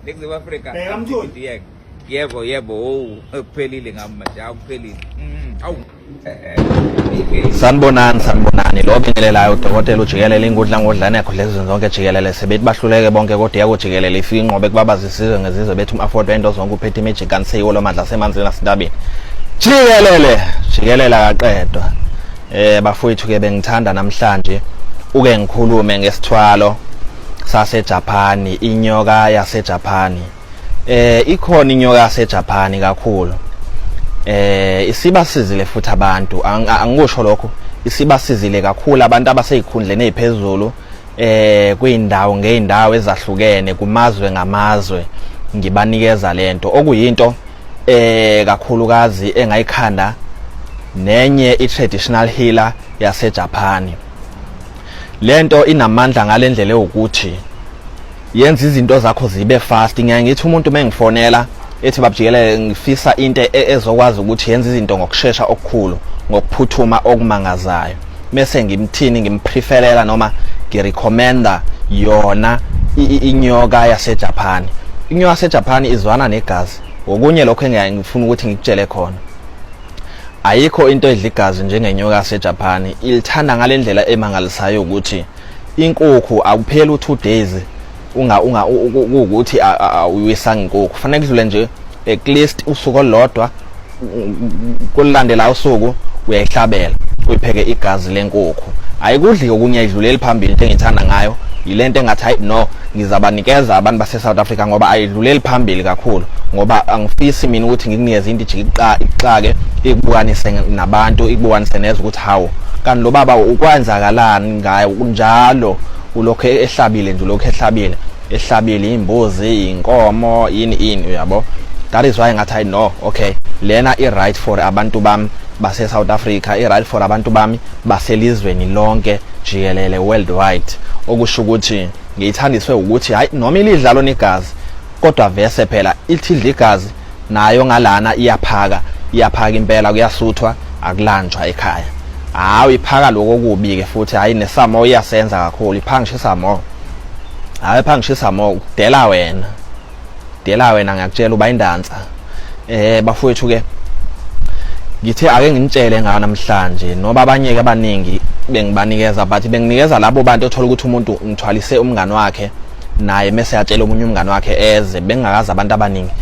Ningizimu Afrika. Bheka mtholi. Yebo yebo owu ekuphelile ngami manje akuphelile. Mm, awu. sanibonani sanibonani lo bingelelayo udokotela ujikelele inkundla ngodlane yakho lezi zonke jikelele sebethi bahluleke bonke kodwa iyakujikelele ifike inqobe kubabaza isizwe ngezizwe bethi um-afford wento zonke uphethe imejik kanisiyiwo lo mandla asemanzini asintabeni jikelele jikelele akaqedwa um bafowethu-ke bengithanda namhlanje uke ngikhulume ngesithwalo saseJapani inyoka yaseJapani eh ikhona inyoka yaseJapani kakhulu eh isiba sizile futhi abantu angikusho lokho isiba sizile kakhulu abantu abasezikhundleni eziphezulu eh kwindawo ngeindawo ezahlukene kumazwe ngamazwe ngibanikeza lento okuyinto eh kakhulukazi engayikhanda nenye i traditional healer yaseJapan lento inamandla ngalendlela ukuthi yenza izinto zakho zibe fast ngiyaye ngithi umuntu uma engifonela ethi babjikelele ngifisa into e, ezokwazi ukuthi yenza izinto ngokushesha okukhulu ngokuphuthuma okumangazayo mese ngimthini ngimpreferela noma ngirecommenda yona inyoka yaseJapan inyoka yaseJapan izwana negazi okunye lokho engiyangifuna ukuthi ngikutshele khona Ayikho into edla igazi njengenyoka yaseJaphani. Ilithanda ngale ndlela emangalisayo ukuthi inkukhu akupheli u2 days unga unga ukuthi uyiwisanga inkukhu. Kufanele kudlule nje at least usuku olodwa kulandela usuku uyayihlabela uyipheke igazi lenkukhu. Ayikudli okunye idluleli phambili into engithanda ngayo yilento engathi hayi no ngizabanikeza abantu base-south africa ngoba ayidluleli phambili kakhulu ngoba angifisi mina ukuthi ngikunikeze into ijikixake ikubukanise nabantu ikubukanise nezwe ukuthi hawu kanti lo baba ukwenzakalani ngaye kunjalo ulokhu ehlabile nje ulokhu ehlabile ehlabile imbuzi inkomo yini ini uyabo that is why ngathi i know okay lena i right for abantu bami base South Africa i right for abantu bami baselizweni lonke jikelele worldwide okusho ukuthi ngiyithandiswe ukuthi hayi noma ilidlalo negazi kodwa vese phela ithidla igazi nayo ngalana iyaphaka iyaphaka impela kuyasuthwa akulanjwa ekhaya hawu iphaka lokho kubi ke futhi hayi nesamo iyasenza kakhulu iphangishisa mo hayi phangishisa mo kudela wena dela wena ngiyakutshela uba indansa eh bafowethu ke ngithe ake nginitshele ngayo namhlanje noba abanye-ke abaningi bengibanikeza but benginikeza labo bantu othola ukuthi umuntu ngithwalise umngani wakhe naye mese yatshela omunye umngani wakhe eze bengingakazi abantu abaningi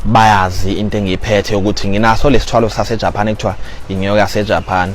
bayazi into engiyiphethe ukuthi nginaso lesithwalo saseJapan ekuthiwa inyoka yaseJapan